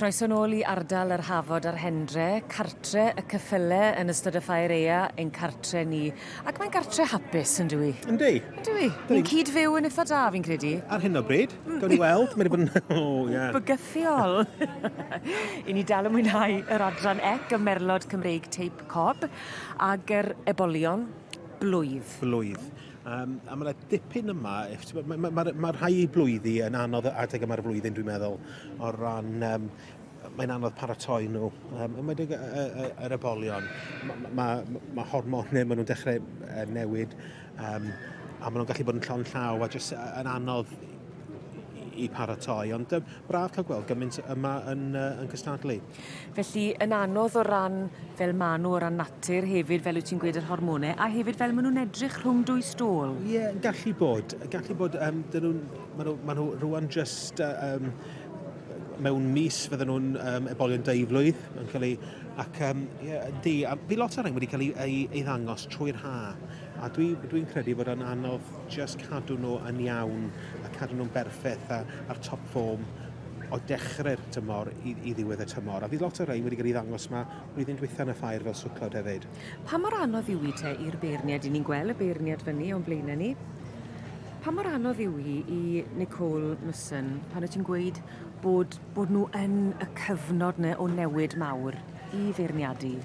Croeso nôl i ardal yr Hafod a'r Hendre, cartre y cyffyle yn ystod y Ffair Ea, ein cartre ni. Ac mae'n gartre hapus, yn dwi? Yndi. Yndw i. Ni'n cyd fyw yn eitha da, fi'n credu. Ar hyn o bryd. Mm. Gawn ni weld, mae'n bod yn... O, ie. Bygythiol. I ni dal yn mwynhau yr adran ec y merlod Cymreig teip cob, ag yr ebolion blwydd. Blwydd. Um, a mae yna dipyn yma, mae ma, ma, ma rhai blwyddi yn anodd adeg yma'r flwyddyn dwi'n meddwl, o ran, um, mae'n anodd paratoi nhw, um, ymwedig yr ebolion. Mae ma, ma, ma hormonau, maen nhw'n dechrau newid, um, a maen nhw'n gallu bod yn llon llaw, a jyst yn anodd i paratoi. Ond um, braf cael gweld gymaint yma yn, uh, yn cystadlu. Felly, yn anodd o ran fel ma nhw, o ran natur hefyd, fel wyt ti'n gweud yr hormonau, a hefyd fel maen nhw'n edrych rhwng dwy stôl. Ie, yeah, gallu bod. Gallu bod, um, dyn nhw'n, maen nhw, ma nhw rwan just um, mewn mis fydden nhw'n um, ebolion deiflwydd yn cael ei... Ac, um, yeah, di, a fi lot o'r rhain wedi cael ei, ei, ei ddangos trwy'r ha. A dwi, dwi'n credu fod o'n anodd just cadw nhw yn iawn a cadw nhw'n berffeth a, a'r top form o dechrau'r tymor i, i ddiwedd y tymor. A fydd lot o rhain wedi cael ei ddangos yma blwyddyn dwytha yn y ffair fel swclod hefyd. Pa mor anodd yw hi te i'r beirniad, i ni'n gweld y beirniad fyny o'n blaenau ni, pa mor anodd yw hi i Nicole Musson pan wyt ti'n gweud bod, bod nhw yn y cyfnod yna o newid mawr i feirniadu?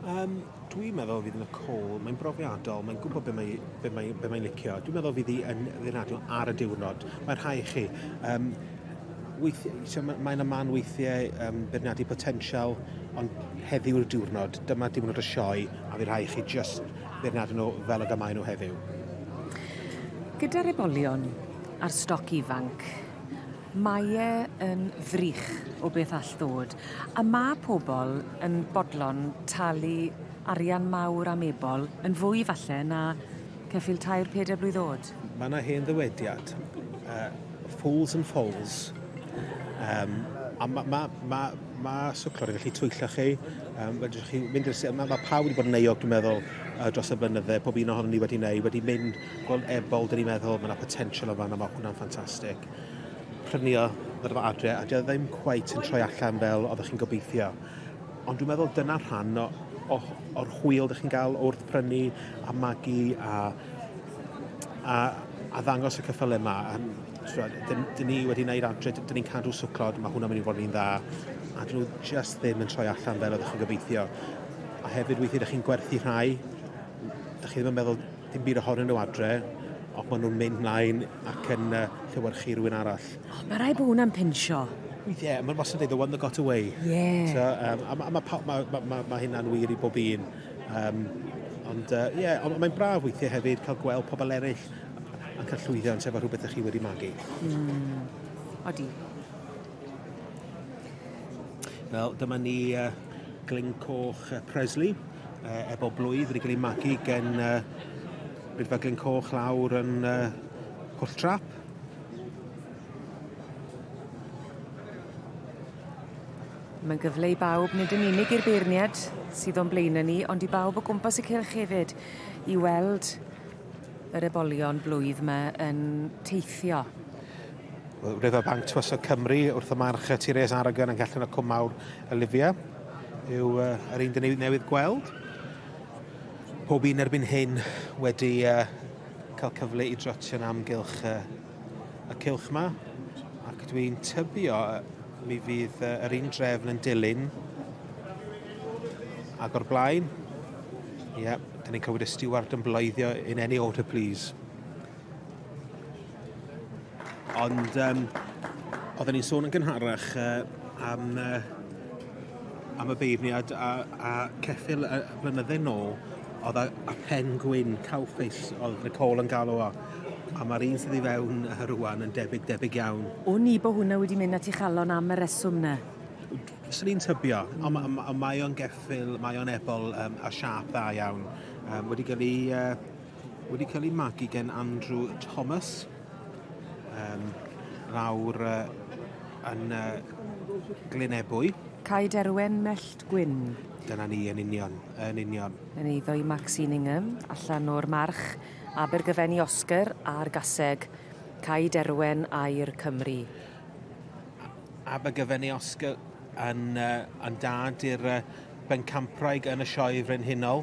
Um, dwi'n meddwl fydd yn y call, mae'n brofiadol, mae'n gwybod beth mae'n be mae, be mae licio. Dwi'n meddwl fydd hi yn ddynadol ar y diwrnod. Mae rhai chi. Um, weithiau, mae'n aman weithiau um, beirniadu potensial, ond heddiw'r diwrnod, dyma diwrnod y sioe, a fydd rhai chi just beirniadu nhw fel y gymau nhw heddiw. Gyda'r ebolion a'r stoc ifanc, Mae e yn ddrych o beth all ddod, a ma' pobol yn bodlon talu arian mawr am ebol yn fwy falle na ceffyl tair peder blwydd o'd. Ma' 'na hen ddywediad, yy fools and foals, yym a ma' ma' ma' ma' swclod yn gallu twyllo chi, yym fedrwch chi mynd i'r si- ma' ma' pawb wedi bod yn euog dwi'n meddwl yy dros y blynydde, pob un ohonon ni wedi neu wedi mynd gweld ebol 'dyn ni'n meddwl ma' 'na potential yn fan 'na ma' hwnna'n ffantastic. prynio fod efo adre a dyna ddim cweit yn troi allan fel oeddech chi'n gobeithio. Ond dwi'n meddwl dyna rhan o, o, o'r hwyl ydych chi'n gael wrth prynu a magu a, a, a ddangos y cyffylau yma. Dyn, dyn ni wedi gwneud adre, dyn ni'n cadw swclod, mae hwnna'n mynd i fod yn un dda. A dyn nhw just ddim yn troi allan fel oeddech chi'n gobeithio. A hefyd weithiau ydych chi'n gwerthu rhai, ydych chi ddim yn meddwl Dim byd ohonyn nhw adre, ond maen nhw'n mynd mlaen ac yn uh, llewyrchu rhywun arall. O, oh, mae rai bod hwnna'n pinsio. Ie, mae'n wastad dweud, the one that got away. Ie. Yeah. So, um, a mae ma, ma, ma, ma, ma, ma hynna'n wir i bob un. Um, ond ie, uh, yeah, ond mae'n braf weithiau hefyd cael gweld pobl eraill yn cael llwyddiant efo rhywbeth ydych chi wedi magu. Mm. Odi. Wel, dyma ni uh, Glyn Coch uh, Presley, uh, efo blwydd wedi cael ei magu gen uh, Rydfa Glyn Coch lawr yn uh, Pwll Trap. Mae'n gyfle i bawb, nid yn unig i'r beirniad sydd o'n blaen ni, ond i bawb o gwmpas y cylch hefyd, i weld yr ebolion blwydd yma yn teithio. Riverbank Tywysog Cymru wrth y march y Tires Aragon yng Nghellyn y Cwm Mawr, Olivia, yw uh, yr un dyn newydd gweld. Pob un erbyn hyn wedi uh, cael cyfle i drotio'n amgylch uh, y cylch yma, ac dwi'n tybio uh, mi fydd uh, yr un drefn yn dilyn ac o'r blaen. Ie, yeah, dyn ni'n clywed y steward yn bloeddio in any order please. Ond um, oedden ni'n sôn yn gynharach uh, am, uh, am y beirniad a, a ceffil y blynydde nôl oedd a, a pen gwyn cawffus oedd Nicole yn galw o a mae'r un sydd i fewn uh, rwan yn debyg debyg iawn. O ni bod hwnna wedi mynd at i chalon am y reswm na? Swn i'n tybio, ond ma, ma, mae o'n geffil, mae o'n ebol um, a siap dda iawn. Um, wedi cael ei uh, wedi cael ei magu gen Andrew Thomas um, lawr uh, yn uh, Glynebwy. Cai Derwen Mellt Gwyn. Dyna ni, yn union, yn union. Yn eiddo i Maxine Ingham, allan o'r march, Abergyfen i Oscar a'r gaseg, Cai Derwen air Cymru. Abergyfen i Oscar yn, uh, yn dad i'r uh, bencampwraig yn y sioe frenhinol.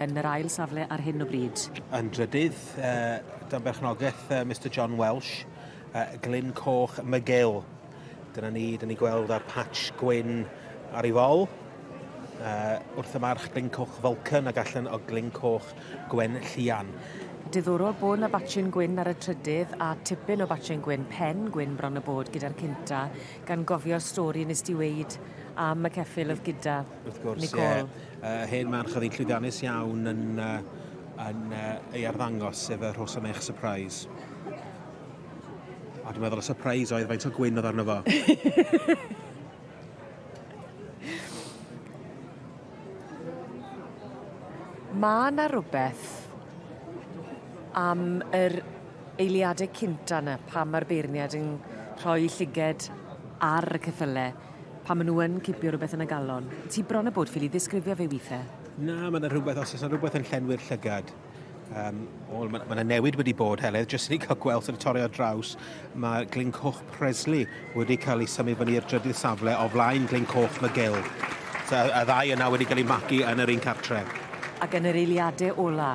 yn yr ail safle ar hyn o bryd. Yn drydydd, dan berchnogaeth Mister John Welsh, Glyn Coch Mygyl. Dyna ni, dyn ni gweld ar patch gwyn ar ei fol. Uh, wrth y march Glyn Coch Falcon ac allan o Glyn Coch Gwen Llian. Diddorol bod yna batchyn gwyn ar y trydydd a tipyn o batchyn gwyn pen gwyn bron y bod gyda'r cynta gan gofio'r stori nes di weid am y ceffil oedd gyda Wrth gwrs, Nicole. Ie, uh, hen man chyddi llwyddiannus iawn yn, uh, yn uh, ei arddangos, sef y rhos am eich surprise. A dwi'n meddwl y surprise oedd faint o gwyn oedd arno fo. Mae yna rhywbeth am yr eiliadau cynta yna pan mae'r beirniad yn rhoi llyged ar y ceffylau. Pan maen nhw yn cipio rhywbeth yn y galon. Ti bron a bod ffili ddisgrifio fe weithiau. Na, mae yna rhywbeth, os oes yna rhywbeth yn llenwi'r llygad. Um, o, mae yna newid wedi bod, Heledd, jyst i ni cael gweld yn y torri ar draws. Mae Glyn Coch Presley wedi cael ei symud fyny i'r drydydd safle o flaen Glyn Coch McGill. So, y ddau yna wedi cael ei magu yn yr un cartref. Ac yn yr eiliadau ola,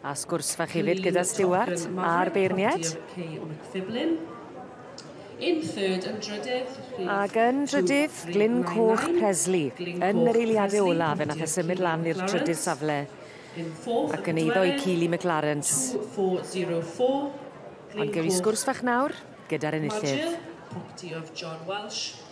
A sgwrs fach hefyd gyda Stuart a'r beirniaid. In third yn drydydd... Ac yn drydydd, Glyn Coch Presley. Yn yr eiliadau olaf, fe nath e symud lan i'r trydydd safle ac yn eiddo i Keely McLarens. Ond gewn ni sgwrs fach nawr gyda'r enillydd. Roger, property of John Welsh.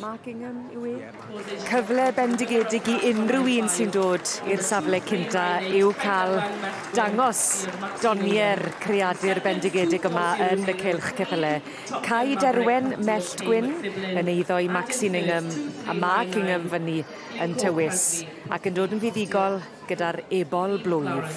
Markingham yw e. Cyfle bendigedig i unrhyw un sy'n dod i'r safle cynta yw cael dangos donier creadur bendigedig yma yn y cylch ceffyle. Cai Derwen, Mellt Gwyn, yn eiddo i Maxine Ingham a Mark Ingham fyny yn tywys ac yn dod yn fuddugol gyda'r ebol blwydd.